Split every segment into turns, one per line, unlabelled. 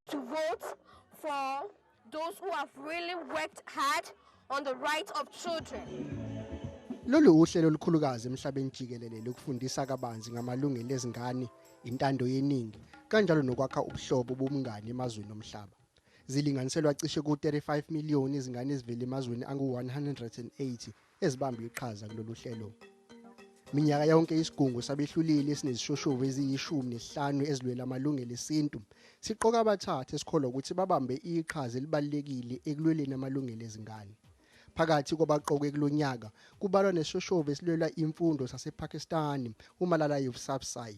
To vote for those who have really worked hard on the rights of children.
Lolu uhlelo olukhulukazi emhlabeni jikelele lokufundisa kabanzi ngamalungelo ezingane, intando yeningi, kanjalo nokwakha ubuhlobo bomngani emazweni omhlaba. Zilinganiselwa cishe ku-35 million izingane ezivela emazweni angu-180 ezibambe iqhaza kulolu hlelo. Minyaka yonke isigungu sabehluleli esinezishoshovu eziyishumi nesihlanu ezilwela amalungelo esintu siqoka abathathu esikholwa ukuthi babambe iqhaza elibalulekile ekulweleni amalungelo ezingane. Phakathi kwabaqoke kulo nyaka kubalwa nesishoshovu esilwela imfundo sasePakistan uMalala Yousafzai.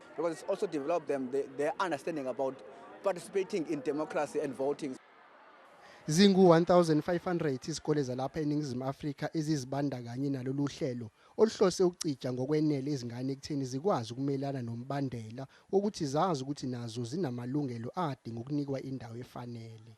because it's also developed them the, their understanding about participating in democracy and voting. Zingu-1500
izikole zalapha eNingizimu Afrika ezizibandakanye nalolu hlelo oluhlose ukucija ngokwenele izingane ekutheni zikwazi ukumelana nombandela wokuthi zazi ukuthi nazo zinamalungelo adinga ukunikwa indawo efanele.